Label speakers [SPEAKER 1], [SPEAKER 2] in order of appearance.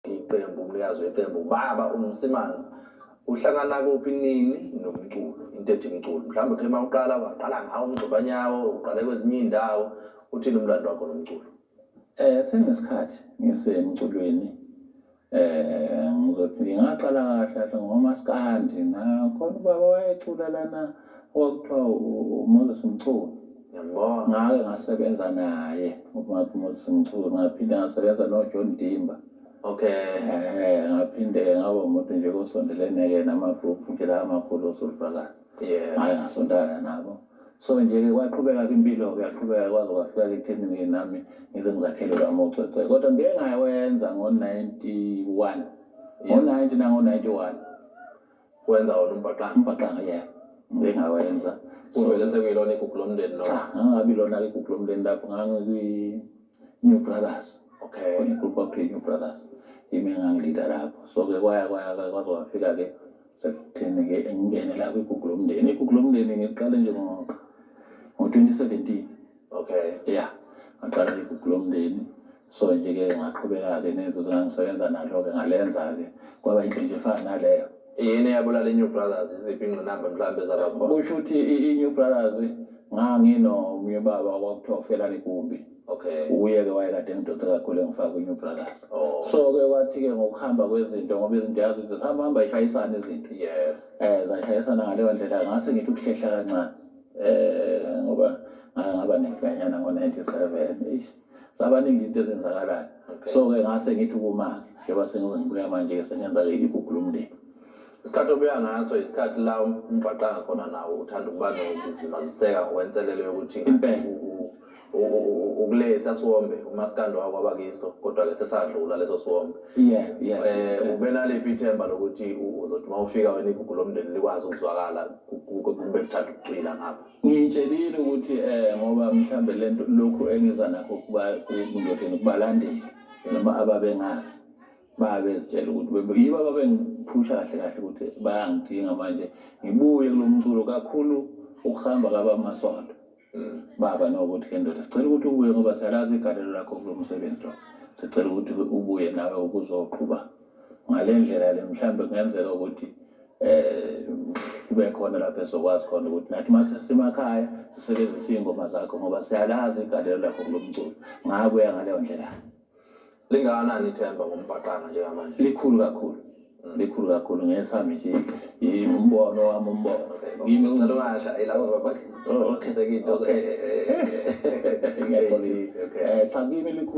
[SPEAKER 1] iqembu umnikazi weqembu baba umsimanga uhlangana kuphi nini nomculo into ethi mculo mhlawumbe uthe uma uqala waqala ngawo umgxobanyawo uqale kwezinye iy'ndawo uthini umlando wakho nomculo um sengesikhathi
[SPEAKER 2] ngisemculweni um ngizoti ngingaqala kahle kahle ngomaskandi nakhona ubaba wayecula lana okwakuthiwa uMoses Mchunu ngiyambona
[SPEAKER 1] ngake ngasebenza
[SPEAKER 2] naye umathi Moses Mchunu ngaphinde ngasebenza noJohn Dimba okay
[SPEAKER 1] eh ngaphinde
[SPEAKER 2] ngaba umuntu nje kosondelene-ke nama-group nje la amakhulu osolifakazi yeah ngake ngasontana nabo so nje-ke kwaqhubeka kwimpilo-ke yaqhubeka kwaze kwafika ekuthenini nami ngize ngizakhele kwamocwecwe kodwa ngike ngawenza ngo-ninety-one ngo-ninety nango-ninety-one
[SPEAKER 1] wenza wona umbhaqanga umbhaqanga yebo
[SPEAKER 2] bengawenza kuvele sekuyilona
[SPEAKER 1] igugu lomndeni noma ngangabi lona igugu
[SPEAKER 2] lomndeni lapho ngangikwi-new brothers okay igroup
[SPEAKER 1] kwakuthiwa i-new
[SPEAKER 2] brothers yimi engangilida lapho so-ke kwaya kwaya kwaze kwafika-ke sekutheni-ke ngingene la kwigugu lomndeni igugu lomndeni ngiqale nje ngo-twenty seventeen okay ya
[SPEAKER 1] ngaqala
[SPEAKER 2] igugu lomndeni so nje ke ngaqhubeka-ke nenzuzo ngangisebenza nalo-ke ngalenza-ke kwaba into nje efana naleyo yini eyabulala
[SPEAKER 1] i-new brothers iziphi ingqinamba mhlawumbe ezabakhona kusho ukuthi i-new
[SPEAKER 2] brothers nganginomunye ubaba kwakuthiwa ufelani kumbi okay uye-ke
[SPEAKER 1] wayekade
[SPEAKER 2] ngidonse kakhulu engifaka kwi-new brothers oh. so-ke
[SPEAKER 1] kwathi-ke
[SPEAKER 2] ngokuhamba kwezinto ngoba izinto yazi ukuthi zihamba hamba ishayisana izinto yeah. um zashayisana ngaleyo ndlela ngase ngithi ukuhlehla kancane um ngoba ngaba nefanyana ngo-ninety seven eish zabaningi into ezenzakalayo so-ke ngase ngithi kumake njengoba sengize ngibuya manje-ke sengenza-ke igugu lomndeni isikhathi obuya
[SPEAKER 1] ngaso isikhathi la umgqaqanga khona nawo uthanda ukuba nokuzimaziseka ngokwenselelo yokuthi ukulesi asiwombe umasikandi wako abakiso kodwa-ke sesadlula leso siwombe um ubenaliphi ithemba lokuthi uzothi uma ufika wena igugu lomndeni likwazi ukuzwakala kube kuthanda ukucwila ngapha Ngiyitshelile ukuthi
[SPEAKER 2] eh ngoba mhlambe lento lokhu engiza nakho kuba kungizodini kubalandeli noma ababengazi babezitshela ukuthi yibo ababengiphusha kahle kahle ukuthi bayangidinga manje ngibuye kulo mculo kakhulu ukuhamba kabamasondo mm. baba nokuthi ke ndoda sicela ukuthi ubuye ngoba siyalazi igalelo lakho kulo msebenzi lo sicela ukuthi ubuye nawe ukuzoqhuba ngale ndlela le mhlawumbe kungenzeka ukuthi um kube khona lapho esizokwazi khona ukuthi nathi uma sisemakhaya sisebenzise iy'ngoma zakho ngoba siyalazi igalelo lakho kulo mculo ngakuya ngaleyo ndlela lingakanani
[SPEAKER 1] ithemba ngombhaqanga njengamanje likhulu kakhulu
[SPEAKER 2] mm. likhulu kakhulu ngesami nje umbono wami umbono kimi uncela ungasha
[SPEAKER 1] ilabo babakhethe into
[SPEAKER 2] okay eh, eh, eh, cha kimi likhulu